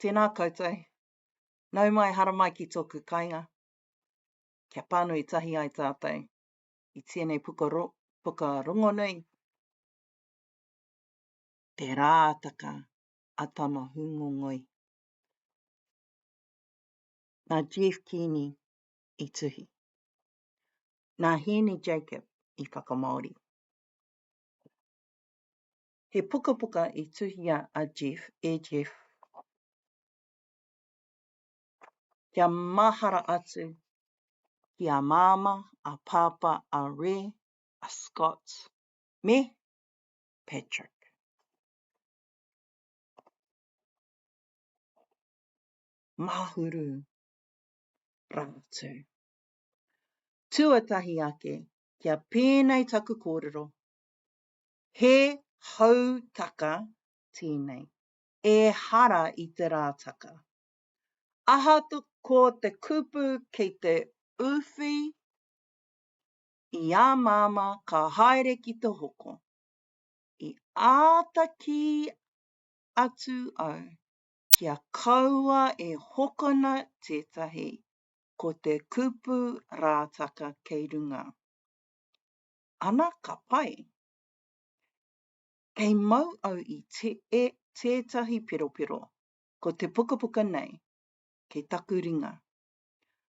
Tēnā koutou. Nau mai haramai ki tōku kainga. Kia pānui tahi ai tātou i tēnei puka, puka rongonui. Te Rātaka a Tama Hūngongoi. Nā Jeff Keeney i tuhi. Nā Hēni Jacob i whakamāori. He pukapuka i tuhia a Jeff, e Jeff, kia mahara atu ki a Māmā, a Pāpā, a Re, a Scott, me Patrick. Mahuru rātou. Tuatahi ake, kia pēnei taku kōrero, He hautaka tēnei, ehara i te rātaka. Aha ko te kupu kei te uwhi i a Māmā ka haere ki te hoko. I āta kī atu au kia kaua e hokona tētahi, ko te kupu rātaka kei runga. Ana ka pai. Kei mau au i te e tētahi peropero, ko te pukapuka nei, kei taku ringa.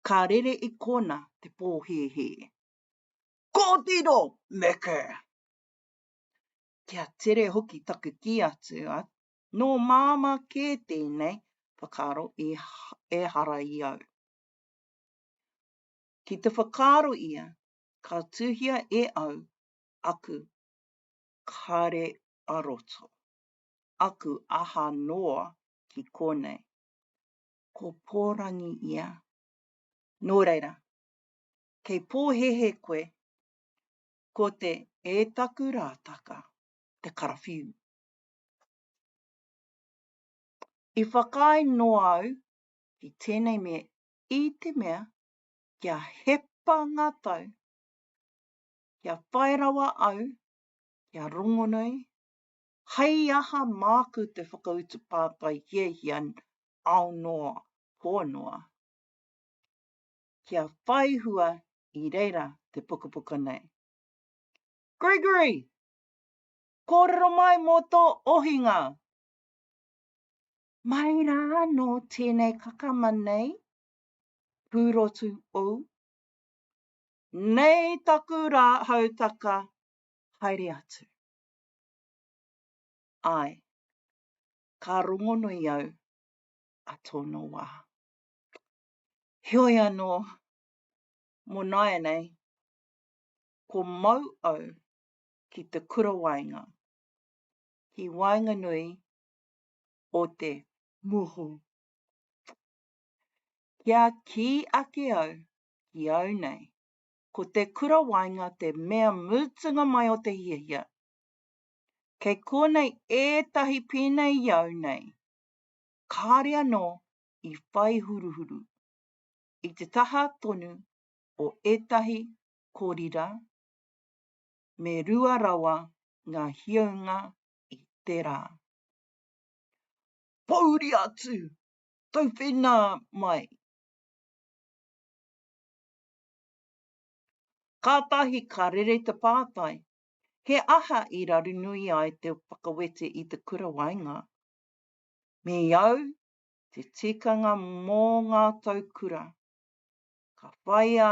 Ka rere i kōna te pōhēhē. Kōtiro! Meke! Kia tere hoki taku kī atu, a, nō Māmā kē tēnei whakaaro i ehara i au. Ki te whakaaro ia, Ka tuhia e au aku kare a roto, aku aha noa ki konei. Ko Pōrangi ia. Nō reira, kei pōhēhē koe ko te E taku rātaka, te karawhiu. I whakaae noa au ki tēnei mea i te mea Kia hepa ngā tau, kia whai rawa au, kia rongonui, hai aha māku te whakautu pātai hiahia ao noa, pō noa. Kia whai hua i reira te pukapuka nei. Gregory! Kōrero mai mō tō ohinga! Mai rā anō tēnei kakama nei pūrotu ou? Nei taku rā hautaka, haere atu. Āe, ka rongonui au a tōna wā. Heoi anō, mō nāianei, ko mau au ki te kura waenga, ki waenganui o te. Moho. Kia kī ake au, ki au nei, ko te kura waenga te mea mutunga mai o te hiahia. Kei konei ētahi pēnei i au nei, kāre anō i whai huruhuru, i te taha tonu o ētahi korira, me rua rawa ngā hiaunga i te rā. Pouri atu! tauwhena mai. Kātahi ka rere te pātai, he aha i rarunui ai te whakawete i te kura waenga? Me i au te tikanga mō ngā tau kura, ka whāia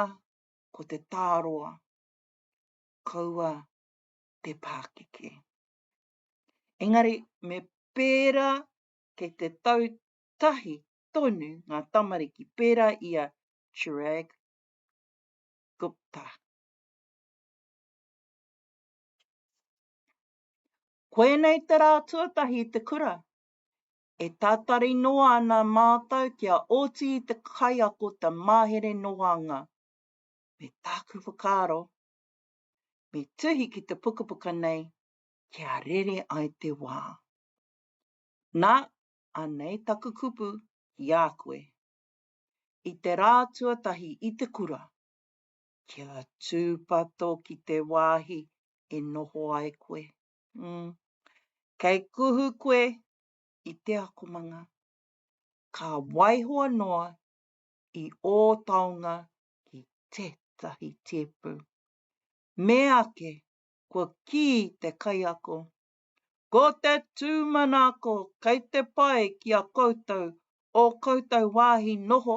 ko te tāroa, kaua te pākeke. Engari me pērā kei te tau tahi tonu ngā tamariki pērā i a Chirag Gupta. Koinei te rā tuatahi i te kura. E tātari noa ana mātou kia oti i te kaiako te mahere noanga. Me tāku whakaaro, me tuhi ki te pukapuka nei kia rere ai te wā. Na, anei taku kupu ki a koe. I te rā tuatahi i te kura, kia tūpato ki te wāhi e noho ai koe. Mm. Kei kuhu koe i te akomanga. Ka waihoa noa i ō taonga ki tētahi tēpu. Meake kua kī te kaiako Ko te tūmanako kei te pai ki a koutou ō koutou wāhi noho,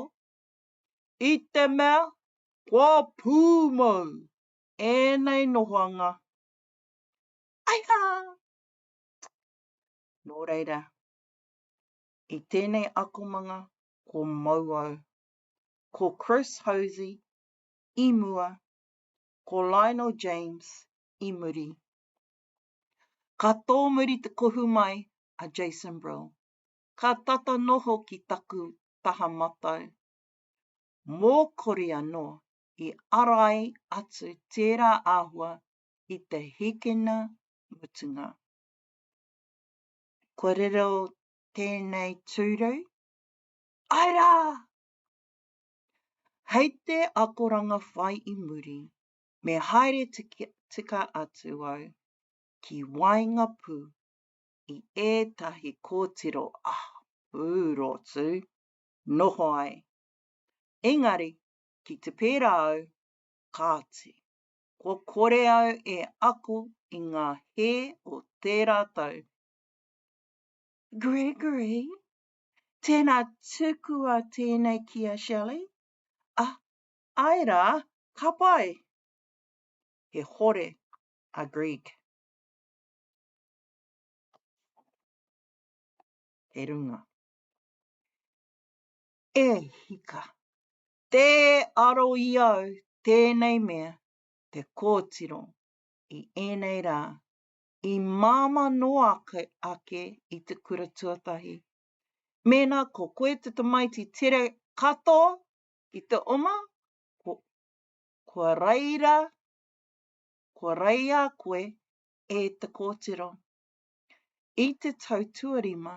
i te mea kua pūmau ēnei nohoanga. Aiha! Nō reira, i tēnei akomanga ko mau au, ko Chris Hosie i mua, ko Lionel James i muri. Ka tōmuri te kohu mai a Jason Brill, ka tata noho ki taku taha matau. Mōkori anō i arai atu tērā āhua i te hikina mutunga. Kua riro tēnei tūru? Ae rā! Hei te akoranga whai i muri, Me haere tika atu au ki waengapū i ētahi kōtiro, ah, pūrotu, noho ai. Engari, ki te pērā au, kāti, kua kore au e ako i ngā hē o tērā tau. Gregory, tēnā tukua tēnei ki a Shelley, ah, Ae ra, ka pai! He hore a Greg. He runga. E hika! Te aro i au tēnei mea te kōtiro i ēnei rā, i māmā noa ake, ake i te kura tuatahi. Mēnā ko koe te tamaiti tere katoa, I te oma, ko, kua raira, kua raia koe e te kōtiro. I te tau tuarima,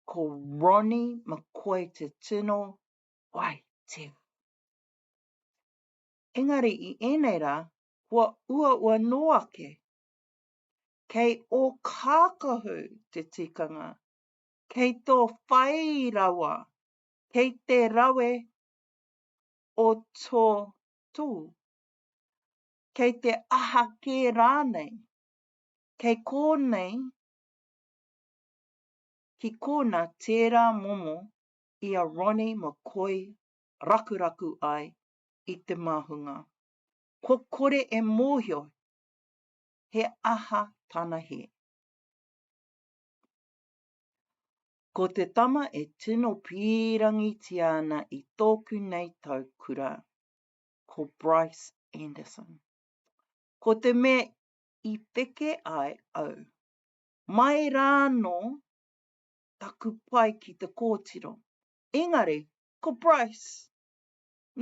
ko Ronnie McCoy te tino waitera. Engari i ēnei rā, kua uaua nō ake. Kei o kākahu te tikanga, kei tō whai rawa kei te rawe o tō tū, kei te aha kē rānei, kei kōnei ki kōna tērā momo i a Ronnie McCoy rakuraku ai i te māhunga. Kua kore e mōhio he aha tana hē. Ko te tama e tino pīrangitia ana i tōku nei tau kura, ko Bryce Anderson. Ko te mea i peke ai au, mai rānō taku pai ki te kōtiro. Engari, ko Bryce,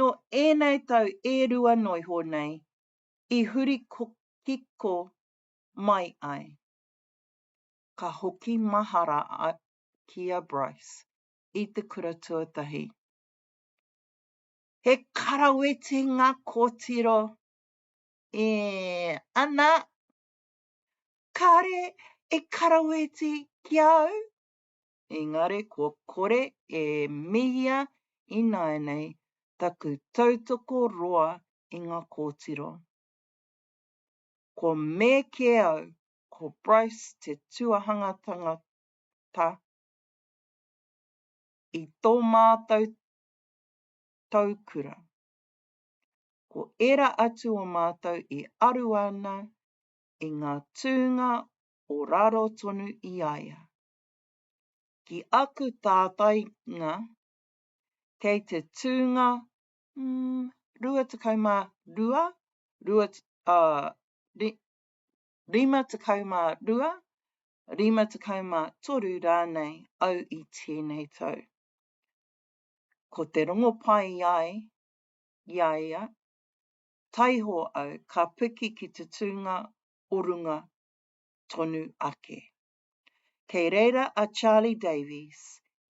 nō ēnei tau e rua noiho nei i huri kiko mai ai. ka hoki mahara ki a Bryce i te kura tuatahi. He karaweti ngā kōtiro. E, ana, kāre e karaweti ki a au. Engari kua kore e mihia ināianei taku tautoko roa i ngā kōtiro. Kua me kē au ko Bryce te tuahanga tangata i tō mātou taukura. Ko ērā atu o mātou i aru ana i ngā tūnga o raro tonu i a ia. Ki aku tātainga, kei te tūnga, mm, 22, rua, uh, 52, 53 rānei au i tēnei tau. Ko te rongopai ai i a ia, taiho au ka piki ki te tūnga o runga tonu ake. Kei reira a Charlie Davies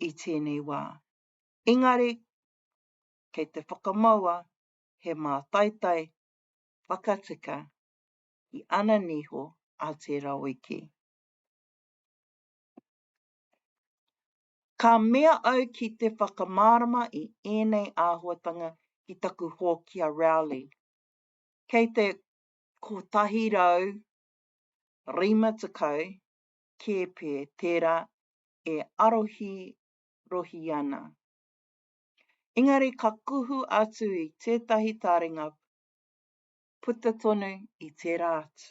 i tēnei wā, engari kei te whakamaua he mātaitai whakatika ki ana niho a Te Raweke. Ka mea au ki te whakamārama i ēnei āhuatanga ki taku hōki a Rowley. Kei te 150 kēpē tērā e arohirohi ana. Engari ka kuhu atu i tētahi taringa puta tonu i tērā atu.